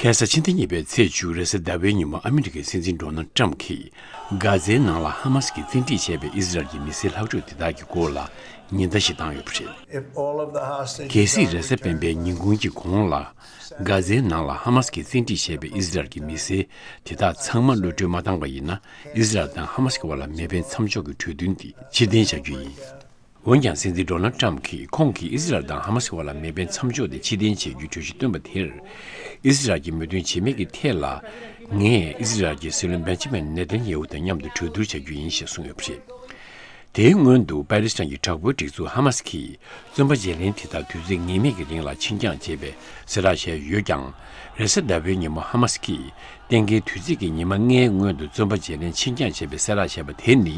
གྷན་ས་ཕྱི་ཟླ་གཉིས་པའི་ཚེས་བཅུ་རེས་གཟའ་ཟླ་བའི་ཉིན་མོ་ཨ་མི་རི་ཀའི་སྲིད་འཛིན་ཏྲོ་ནལ་ཏྲམ་གྱིས་གྷ་ཛའི་ནང་ལ་ཧ་མ་སི་གིས་བཙན་ཁྲིད་བྱས་པའི་ཨིས་རལ་གྱི་མི་སེར་ལྷག་འཕྲོས་དེ་དག་གི་སྐོར་ལ་ཉེན་བརྡ་ཞིག་བཏང་ཡོད་པ་རེད། གལ་སྲིད་རེས་གཟའ་སྤེན་པའི་ཉིན་གུང་གི་གོང་ལ་གྷ་ཛའི་ནང་ལ་ཧ་མ་སི་གིས་བཙན་ཁྲིད་བྱས་པའི་ཨིས་རལ་གྱི་མི་སེར་དེ་དག་ཚང་མ་གློད་གྲོལ་མ་བཏང་བ་ཡིན་ན་ཨིས་རལ་དང་ཧ་མ་སི་གི་བར་ལ་མེ་འཕེན་མཚམས་འཇོག་གི་གྲོས་མཐུན་དེ་ཕྱིར་འཐེན་བྱ་རྒྱུ་ཡིན། འོན་ཀྱང་སྲིད་འཛིན Donald Trump གིས་ཁོང་གིས་ཨི་སི་རལ་དང་ཧ་མ་སི་བར་ལ་མེ་འཕེན་མཚམས་འཇོག་དེ་ཕྱིར་འཐེན་བྱེད་རྒྱུའི་གྲོས་གཞི་བཏོན་པ་དེར་ཨི་སི་རལ་གྱི་མོས་མཐུན་བྱེད་མེད་ཀྱི་ཐད་ལ། ངས་ཨི་སི་རལ་གྱི་སྲིད་བློན Benjamin Netanyahu དང་མཉམ་དུ་གྲོས་བསྡུར་བྱ་རྒྱུ་ཡིན་ཞེས་གསུངས་ཡོད་པ་རེད། དེའི་སྔོན་དུ་པེ་རིས་ཏང་གི་དྲག་པོའི་སྒྲིག་འཛུགས་ཧ་མ་སི་གིས་བཙོན་པ་བརྗེ་ལེན་དེ་དག་དུས་ཚོད་ངེས་མེད་ཀྱི་རིང་ལ་འཆིང་རྐྱང་བྱེད་པའི་གསལ་བསྒྲགས་བྱས་ཡོད་ཀྱང། རེས་གཟའ་ཟླ་བའི་ཉིན་མོ་ཧ་མ་སི་གིས་གཏན་འཁེལ་དུས་ཚིགས་ཀྱི་ཉི་མ་ལྔའི་སྔོན་དུ་བཙོན་པ་བརྗེ་ལེན་འཆིང་རྐྱང་བྱེད་པའི་གསལ་བསྒྲགས་བྱས་པ་དེ་ནི་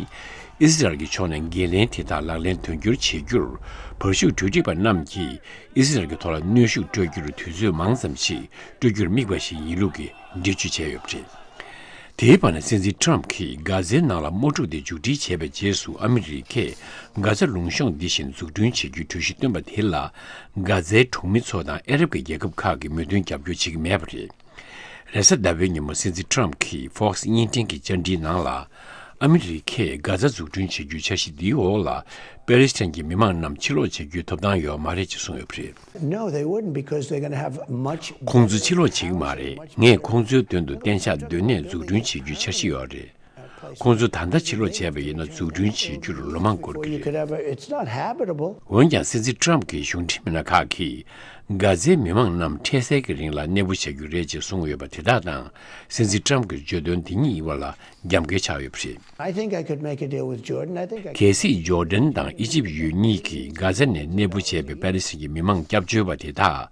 ཨི་སི་རལ་གྱི་ཕྱོགས་ནས་འགན་ལེན་དེ་དག་ལག་ལེན་དོན་འཁྱོལ་བྱེད་རྒྱུར་བར་བཞུགས་གྲོས་འདྲིས་པ་རྣམས་ཀྱིས་ཨི་སི་རལ་གྱི་ཐོག་ལ་གནོན་ཤུགས་སྤྲོད་རྒྱུར་དུས་ཚོད་མང་ཙམ་ཞིག་སྤྲོད་རྒྱུར་དམིགས་པ་ཞིག་ཡིན་ལུགས་ཀྱི་འགྲེལ་བརྗོད་བྱས་ཡོད་པ་རེད། དེའི་བར་ན་སྲིད་འཛིན་ཁྲོམ་གྱིས་འག་ཟའི་ནང་ལ་དམག་འཁྲུག་དེ་མཇུག་སྒྲིལ་བྱས་པའི་རྗེས་སུ་ཨ་མི་རི་ཀས་འག་ཟ་ལུང་གཤོངས་འདི་བཞིན་འཛུགས་སྐྲུན་བྱེད་རྒྱུའི་གྲོས་གཞི་བཏོན་པ་དེ་ལ་འག་ཟའི་གྲོང་མི་ཚོ་དང་ཨ་རབ་ཀྱི་རྒྱལ་ཁབ་ཁག་གིས་མོས་མཐུན་རྒྱབ་སྐྱོར་བྱེད་ཀྱི་མེད་པ་རེད། རེས་གཟའ་ཟླ་བའི་ཉིན་མོ་སྲིད་འཛིན Trump གྱིས Fox བརྙན་འཕྲིན་གྱི་བཅར་འདྲིའི་ནང་ལ། ཨ་མི་རི་ཁས་གྷ་ཛ་འཛུགས་སྐྲུན་བྱེད་རྒྱུའི་འཆར་གཞི་འདིའི་འོག་ལ་པེ་རིས་ཐན་གྱི་མི་མང་རྣམས་ཕྱིར་ལོག་བྱེད་རྒྱུའི་ཐོབ་ཐང་ཡོད་མ་རེད་ཅེས་གསུངས་ཡོད་པ་རེད། ཁོང་ཚོ་ཕྱིར་ལོག་བྱེད་ཀྱི་མ་རེད། ངས་ཁོང་ཚོའི་དོན་དུ་གཏན་ཆགས་སྡོད་གནས་འཛུགས་སྐྲུན་བྱེད་རྒྱུའི་འཆར་གཞི་ཡོད་རེད། ཁོང་ཚོ་ད་ལྟ་ཕྱིར་ལོག་བྱས་པ་ཡིན་ན་འཛུགས་སྐྲུན་བྱེད་རྒྱུར་ལོ་མང་འགོར་གྱི་རེད། འོན་ཀྱང་སྲིད་འཛིན་ཏྲམ་གྱི་གཞུང་འབྲེལ་མི་སྣ་ཁག་གིས་གྷ་ཛའི་མི་མང་རྣམས་འཕྲལ་སེལ་གྱི་རིང་ལ་གནས་སྤོ་བྱ་རྒྱུ་རེད་ཅེས་གསུངས་ཡོད་པ་དེ་དག་དང་སྲིད་འཛིན་ཏྲམ་གྱི་བརྗོད་དོན་འདི་གཉིས་ཡིན་པ་ལ་རྒྱབ་འགལ་ཆགས་ཡོད་པ་རེད། གལ་སྲིད་ཇོ་ལྡན་དང་ཨི་ཇིབ་ཡུལ་གཉིས་ཀྱིས་གྷ་ཛ་ནས་གནས་སྤོ་བྱས་པའི་པཱ་ལི་སི་རན་གྱི་མི་མང་སྐྱབས་བཅོལ་བ་དེ་དག་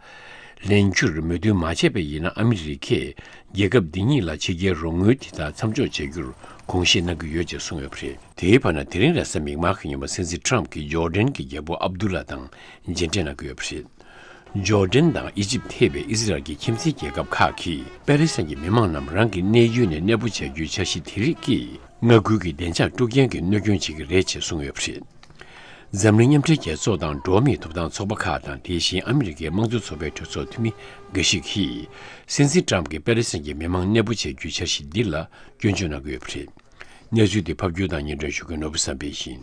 ལེན་རྒྱུར་མོས་མཐུན་མ་བྱས་པ་ཡིན་ན་ཨ་མི་རི་ཁས་རྒྱལ་ཁབ་འདི་གཉིས་ལ་ཕྱི་རྒྱལ་རོགས་དངུལ་དེ་དག་མཚམས་འཇོག་བྱེད་རྒྱུར་དགོངས་བཞེས་གནང་གི་ཡོད་ཅེས་གསུངས་ཡོད་པ་རེད། དེའི་བར་ན་དེ་རིང་ར་ས་མིག་མག་གི་ཉི་མ་སན་སི་ཁྲམ་གྱིས་ཇོ་ལྡན་གྱི་རྒྱལ་པོ་ཨབ་དུ་ལ་དང་མཇལ་འཕྲད་གནང་གི་ཡོད་པ་རེད། ཇོ་ལྡན་དང་ཨི་ཇིབ་ཐེ་བའི་ཨི་ཟི་རལ་གྱི་ཁྱིམ་མཚེས་རྒྱལ་ཁབ་ཁག་གིས་པེ་ལེ་སན་གྱི་མི་མང་རྣམས་རང་གི་གནས་ཡུལ་ནས་གནས་སྤོ་བྱ་རྒྱུའི་འཆར་གཞི་དེ་རིགས་ཀྱིས་མངའ་ཁུལ་གྱི་བདེ་འཇགས་དཀྲུག་རྐྱེན་གྱི་གནོད་སྐྱོན་བྱེད་ཀྱི་རེད་ཅེས་གསུངས་ཡོད་པ་རེད། འཛམ་གླིང་མཉམ་འབྲེལ་རྒྱལ་ཚོགས་དང་འགྲོ་བ་མིའི་ཐོབ་ཐང་ཚོགས་པ་ཁག་དང་དེ་བཞིན་ཨ་མི་རི་ཀའི་དམངས་གཙོའི་ཚོགས་པའི་གྲོས་ཚོགས་འཐུས་མི་འགའ་ཞིག་གིས། སྲིད་འཛིན་ཏྲམ་གྱིས་པེ་རི་སན་གྱི་མི་མང་གནས་སྤོ་བྱེད་རྒྱུའི་འཆར་གཞི་འདི་ལ་སྐྱོན་བརྗོད་གནང་གི་ཡོད་པ་རེད། གནས་ཚུལ་འདི་ཕབ་སྒྱུར་དང་སྙན་སྒྲོན་ཞུ་མཁན་ནོར་བུ་བསམ་འཕེལ་ཡིན།